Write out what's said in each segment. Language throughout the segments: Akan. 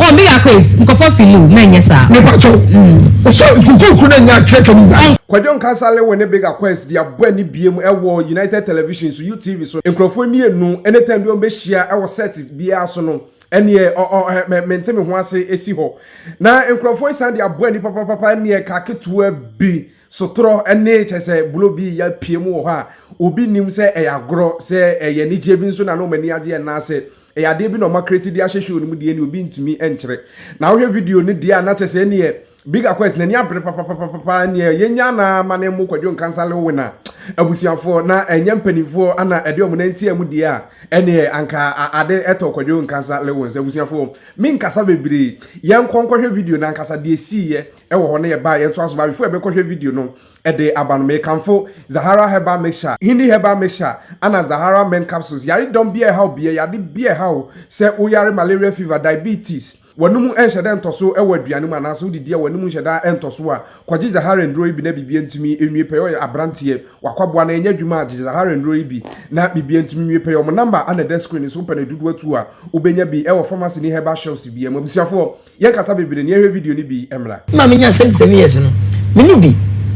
Oh me yako is nkɔfɔ fili o mɛ nyɛ saa. Me pa kyɛw o sɛ sukuu koro na nya atwerɛtwa no nyinaa. Kwadwo Nkansale wɔ ne Big Aquarius de abɔ ani biam wɔ United Television so, UTV so. Nkurɔfoɔ mmienu ne time bi wɔbɛhyia wɔ set biara so no, ɛnneɛ ɔɔh me mente me ho ase si hɔ. Na nkurɔfoɔ yi san de abɔ ani papapapa ɛnneɛ car ketewa bi sotorɔ ne kyerɛ sɛ bulo bi reyɛ apue mu wɔ hɔ a obi nnim sɛ ɛyɛ agorɔ, sɛ ɛyɛ anigyeɛ bi nso na na wɔn ani agye anaasɛ Ɛyɛ adeɛ bi na ɔma create de ahyɛ show no mu deɛ ɛne obi ntumi nkyerɛ. Na wohwɛ video no deɛ a na kyɛ sɛ ɛneɛ Big Aquez n'ani abere papapapapa ɛneɛ yɛnya no ara ma ne mmo Kwadwo Nkansah Lil Wina abusuafoɔ na ɛnyɛ mpanimfoɔ ana ɛde wɔn nan tia mu deɛ a ɛneɛ anka ade tɔ Kwadwo Nkansah Lil Wins abusuafoɔ. Me nkasa bebree. Yɛnkɔ nkɔhwɛ video no ankasa deɛ ɛsiiɛ ɛwɔ hɔ na yɛba a yɛntoa so. Baabifoɔ yɛbɛkɔhwɛ video no. Ɛde aba no, mekamfo Zahara Herbal Mixture, Hindi Herbal Mixture, ɛna Zahara Men Capsules. Yare dɔm bi a ɛhaw obiara, yade bi a ɛhaw wo sɛ wo yare malaria fever, diabetes, w'anom nhyɛ da ntɔso wɔ aduane mu anaasɛ wo didi a w'anom nhyɛ da ntɔso a, kɔgye Zahara nnuro yi bi na biribiara ntumi nwie pɛyɛ. Ɔyɛ abranteɛ, w'akwaboa no ɛnyɛ adwuma a, gye Zahara nnuro yi bi na biribiara ntumi nwie pɛyɛ. Wɔn number ɛna ɛda screen no so, wopɛ no dodoɔ tuo a, wobɛnya bi wɔ pharmacy ne herbal shelves biara mu. Abusuafoɔ. Yɛn kasa bebree no yɛnhwɛ video no bi mmra. Maa me nyaa seventy seven years no me ne bi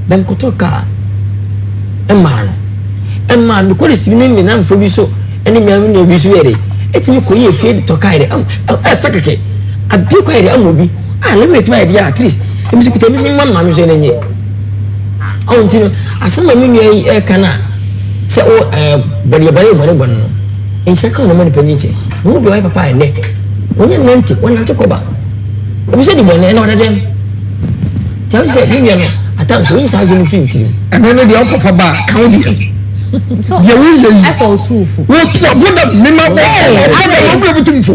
bɛn kɔtɔ car ɛmaa no ɛmaa me kɔ de si ne me nan fo bi so ɛne me ano nua bi so yɛ de ɛtumi kɔ yɛ fie de tɔ car de ɛm ɛfɛ kɛkɛ abie kɔ yɛ de ɛma obi a ne mmerɛ tumi ayɛ bi a at least ɛmi si kuta ɛmi si ma maa mi so ɛna nyɛ ɔn ti no asɛm a me nua yi ɛka na sɛ o ɛɛ bɔdeɛ bɔdeɛ bɔdeɛ bɔdeɛ no. Nhyira nka wɔn a wɔma nnipa nyin kyɛ. Wɔn mu bi wayɛ papa a ɛnnɛ wɔnyɛ nnante, wɔnante kɔ ba. Obi sɛ dibɔne, ɛnna ɔda dɛm. Nti ɛho hia sɛ yɛn nua no atam so, oyi saa adwene no fi ne tirim. Ɛno ne deɛ ɔkɔfa ba a, ka wo deɛ ho. Deɛ woyɛ yi, wotu ɔbo dam, mema wo ɔbo dam, obi a ɔbutu mfo.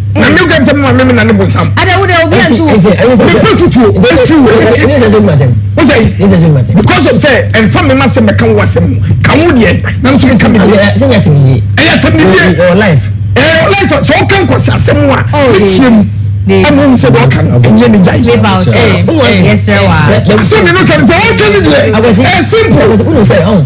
na ne gya nsɛm ma meme na ne bonsam nso mepɛ fotuo ɛfiri wɔ because of sɛ ɛmfa me ma sɛ mɛka wo asɛm mu ka wo deɛ nam so meka medeɛ ɛyɛ atamdie ɛwɔ life sɛ woka nkɔsɛ asɛm a ɛkyia mu ɛmu nsɛ deɛ ɔka no ɛnyɛ ne gya asɛm ne no sɛ mfa wɔka no deɛ ɛyɛ simple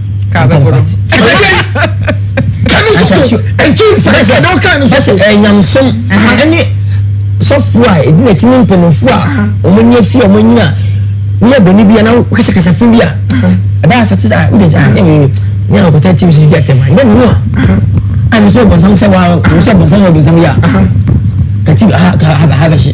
ɛnyamsom ɛne sɔfoɔ a ɛdi n'akyi ne mpanimfoɔ a wɔn nyɛ fie a wɔn nyina ne yɛ bɔnne bi anaa kasakasa fun bi a ɛbɛ afɛ ti a wuli gya ne wei ne yɛn akɔta ti si gya tɛm a ne nua a ne so bɔnsam sɛ wa ne so bɔnsam yɛ bɔnsam yɛ a kati ha ha ha bɛ hyɛ.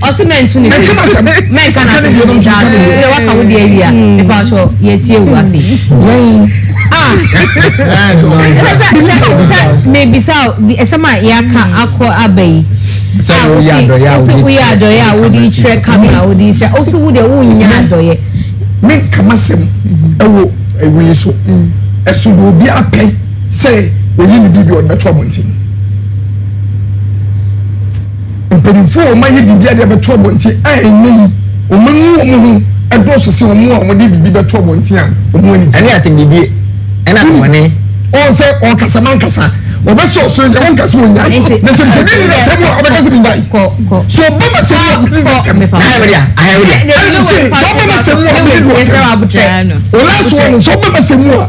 Ɔsi mɛntu ne firi mɛnka na se firi daa so yɛ waka wo de awia nipa ɔkyɔ yɛ tie wu afi. Mebisa ɛsɛm a yɛaka akɔ aba yi a wosi woyɛ adɔyɛ a wode kyerɛ kamera wode kyerɛ wosi wo deɛ wonya adɔyɛ. Me nkama sɛm ɛwɔ ewi yi so ɛso deɛ obi apɛ sɛ oyi ne bi bi ɔde bɛto abɔnten. Mpanyimfo a wɔayɛ biribiara de abɛto abɔnten a ɛnnɛ yi wɔanu wɔn ho dɔɔso sen wɔn a wɔde biribi bɛto abɔnten a wɔn ani gye. Ɛne atɛmdidie ɛna bɔne. Wɔn sɛ ɔkasa mankasa wɔbɛsɛ ɔsoro deɛ wɔn kasa wɔn nyae na sɛ mpɛdi ni na tɛmu a ɔbɛka sɛ bi nyae so ɔba ma sɛ mu a ɔbɛdi na tɛmu ɛna sɛ sɛ ɔba ma sɛ mu a ɔbɛdi na tɛmu ɔlaa so wɔn sɛ ɔba ma sɛ mu a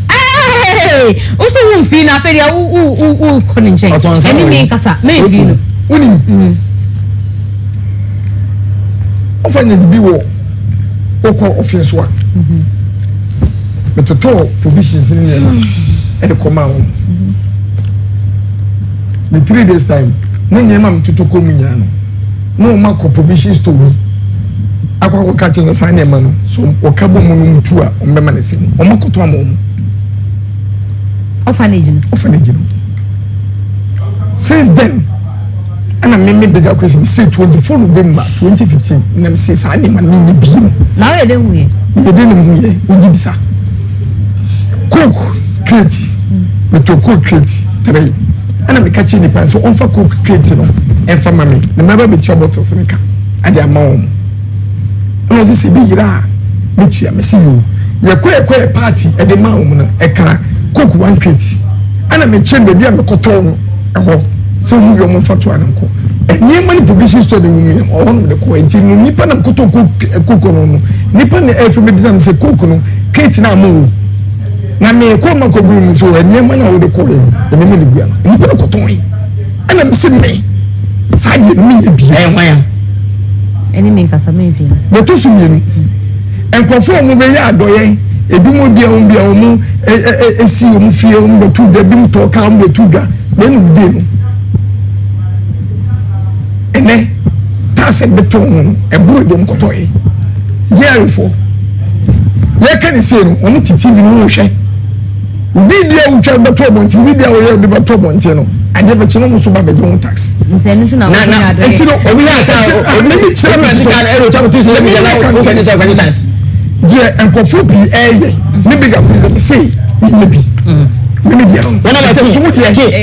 Hey! Usu wo mfii no afei deɛ wo wo wo wo kɔ ne nkyɛn. Ɔtɔn nsa Ɛne wɔ me yi. kasa me So mfii tu. no. Wonim. Wofa nya biribi wɔ wokɔ ɔfeɛ so a. Metotɔɔ provisions ne nneɛma ɛde kɔmaa wɔn. Ne three days time ne nneɛma a metoto kɔɔ mu nyinaa no. na wɔn akɔ provision store bi akɔ akɔ ka kyerɛ sɛ saa nneɛma no so wɔka bɔ mu no mu tu a wɔn bɛma ne sɛ wɔn akɔtɔ ama wɔn. orphanage no orphanage no since then ɛna mímí bigger question sɛ twenty four november twenty fifteen nam sɛ saa nneɛma no nyɛ bi mu. na ɔyɛ dɛ hu yɛ. yɛ dɛ nim hu yɛ ogyi bisa coke crate metɔ coke crate three. Ɛnna meka kyerɛɛ nnipa no sɛ wɔmfa Coke kreti no mfa mma me, na mɛba abetua bottles no ka de ama wɔn. Ɛnna wɔse, Sɛ ebi yera a, metua. Mese, Yiw. Yɛkɔe kɔyɛɛ party de maa wɔn no, ɛkaa Coke one kreti. Ɛnna mekyerɛɛ no baabi a mekɔtɔɔ no hɔ sɛ wɔn wie a wɔmfa toa no nkɔ. Nneɛma no provision store na ɛwom yi, na ɛhɔ na mede kɔe. Enti no nnipa nam kɔtɔɔ Coke, Coke no no, nnipa na ɛrefrɛ me bisa me sɛ, Coke no kreti no a mowɔ? Na me kɔn ma kɔ gui no nso ɛ nneɛma no a wode kɔɔɛ no nneɛma no gui a nnipa no kɔ tɔn ɛna me se me saa deɛ no menyɛ bi ɛyɛ hwan a ɛne me nkasa me nhwɛ mu deɛ to so mmienu nkurɔfoɔ a wɔn bɛyɛ adɔyɛ ebi mu deɛ wɔn bia wɔn esi wɔn fie wɔn bɛ tu dwa ebi mu tɔ kaa wɔn bɛ tu dwa deɛ no wudie no ɛnɛ taasɛ bɛtɔn no ɛboro deɛ wɔn kɔtɔɛ yɛɛrefoɔ. yɛka ne sei no wɔn te tv no wɔn hwɛ obi di a wotwa bɛtɔ abɔnten obi di a wɔyɛ ɔde bɛtɔ abɔnten no adeɛ bɛkyɛ no wɔn nso ba bɛgye wɔn tax. nsɛn nso na wɔn nyɛ adeɛ nti no obi yɛ ata obi bi kyerɛ mi sɛ ɛna otwa kotu sɛ ɛbi yɛ na wɔn fɛn sɛ wɔn tax. deɛ nkɔfo pii ɛɛyɛ ne bi ga kɔ sɛ sei ne yɛ bi ne mi deɛ no. wɔn na ma ti so mu deɛ.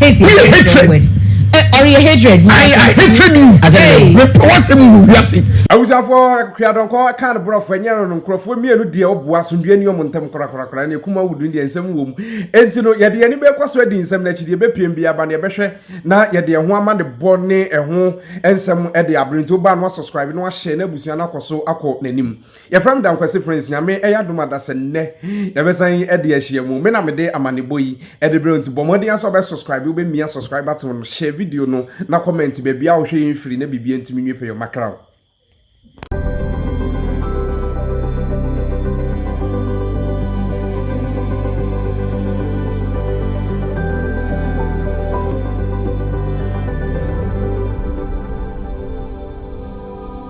hate yɛ hatred word ɔreyɛ eh, eh, hatred mu i i hated you asɛm me pɛ wasɛm wɔ wiase awusafoɔ kuadɔnkɔ ka no borɔfo ɛnyɛ no no nkurɔfoɔ mmienu deɛ ɔboa asomdwoeɛ ni ɔmo ntam korakorakora ne ɛkum awodu deɛ nsɛm wɔ mu enti no yɛde yɛne bɛkɔ so adi nsɛm no akyi deɛ bɛpiem bi aba ne yɛbɛhwɛ na yɛde ɛho ama ne bɔ ne ɛho nsɛm de abere nti wobaa no asubscribe na wahyɛ na abusua no akɔ so akɔ n'anim Yɛfrɛ me Dankwasi Prince, Nyame yɛ adom a dasa nnɛ yɛbɛsan de ahyia mu. Me na mede amanebɔ yi de brɛ wo nti bɔ mmɔden ara sɛ wobɛ subscribe, wobɛmia subscribe button no, share video no na comment baabiara a wohwɛ yɛn firi na biribiara ntumi nwie pɛ yɛ ɔma kra wo.